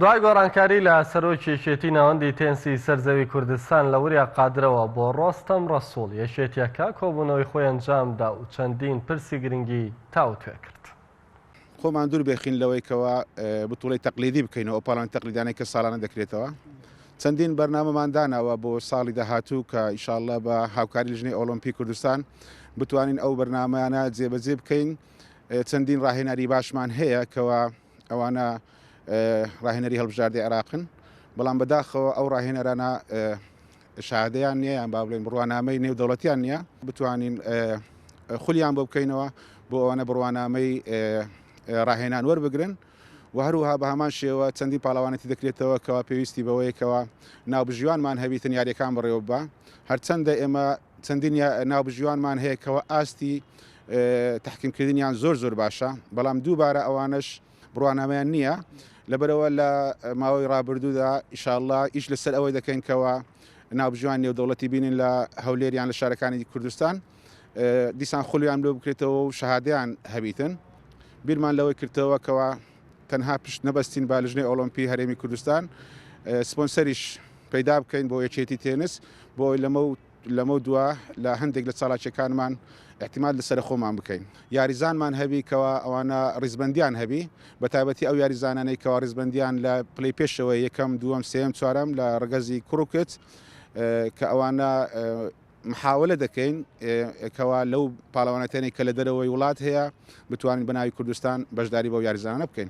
دوای گۆڕانکاری لە سەرۆکی یەکێتی ناوەندی تێنسی سەر زەوی کوردستان لە وریا قادرەوە بۆ ڕۆستەم ڕەسوڵ، یەکێتییەکە کۆبوونەوەی خۆی ئەنجامدا و چەندین پرسی گرنگی تاوتوێ کرد. خۆمان دوور بخین لەوەی کەوا بتوڵەی تەقلیدی بکەینەوە ئەو پاڵان تەقلیدانەی کە ساڵانە دەکرێتەوە چەندین بەرنامەمان داناوە بۆ ساڵی داهاتوو کە ئیشاءاللە بە هاوکاری ژنی ئۆلۆمپی کوردستان بتوانین ئەو بەرنمەیانە جێبەجێ بکەین چەندین ڕاهێناری باشمان هەیە کەوا ئەوانە ڕاهێنەری هەڵبژاردەی عێراقن بەڵام بەداخەوە ئەو ڕاهێنەرانە شادەیان نییە یان با بڵێن بڕوانامەی نێودەوڵەتیان نییە بتوانین خولیان بۆ بکەینەوە بۆ ئەوانە بڕوانامەی ڕاهێنان وەربگرن و هەروها بە هەمان شێوە چەندی پاڵەوانەتی دەکرێتەوە کەوا پێویستی بەوەیەکەوە ناوبژیوانمان هەبیتن یاریەکان بڕێوە بە هەرچەندە ئێمە چەندین ناوبژیوانمان هەیە کەوا ئاستی تەحکیمکردنیان زۆر زۆر باشە، بەڵام دووبارە ئەوانەش بڕوانامەیان نییە، لەبەرئەوە لە ماوەی رابردوودا ئیشاڵڵا ئیش لەسەر ئەوەی دەکەین کەوا ناوبژیوانی نێودەوڵەتی بینین لە هەولێر یان لە شارەکانی کوردستان دیسان خولیان لۆ بکرێتەوە و شەهادەیان هەبیتن بیرمان لەوەی کردتەوە کەوا تەنها پشت نەبەستین بە لژنەی ئۆڵۆمپی هەرێمی کوردستان سپۆنسەریش پەیدا بکەین بۆ یەکێتی تێنس بۆ لەمە و لەمە دووە لە هەندێک لە چالاکیەکانمان احتیمال لەسەر خۆمان بکەین یاریزانمان هەبی کەوا ئەوانە ڕیزبندیان هەبی بە تایبەتی ئەو یاریزانانەی کەوا ڕیزبندیان لە پلی پێشەوە یەکەم دووەم سێم چوارم لە ڕگەزی کوڕکت کە ئەوانە محاولە دەکەین کەوا لەو پاڵەوانێتێنێک کە لە دەرەوەی وڵات هەیە بتوانین بە ناوی کوردستان بەشداری بەو یاریزانانە بکەین.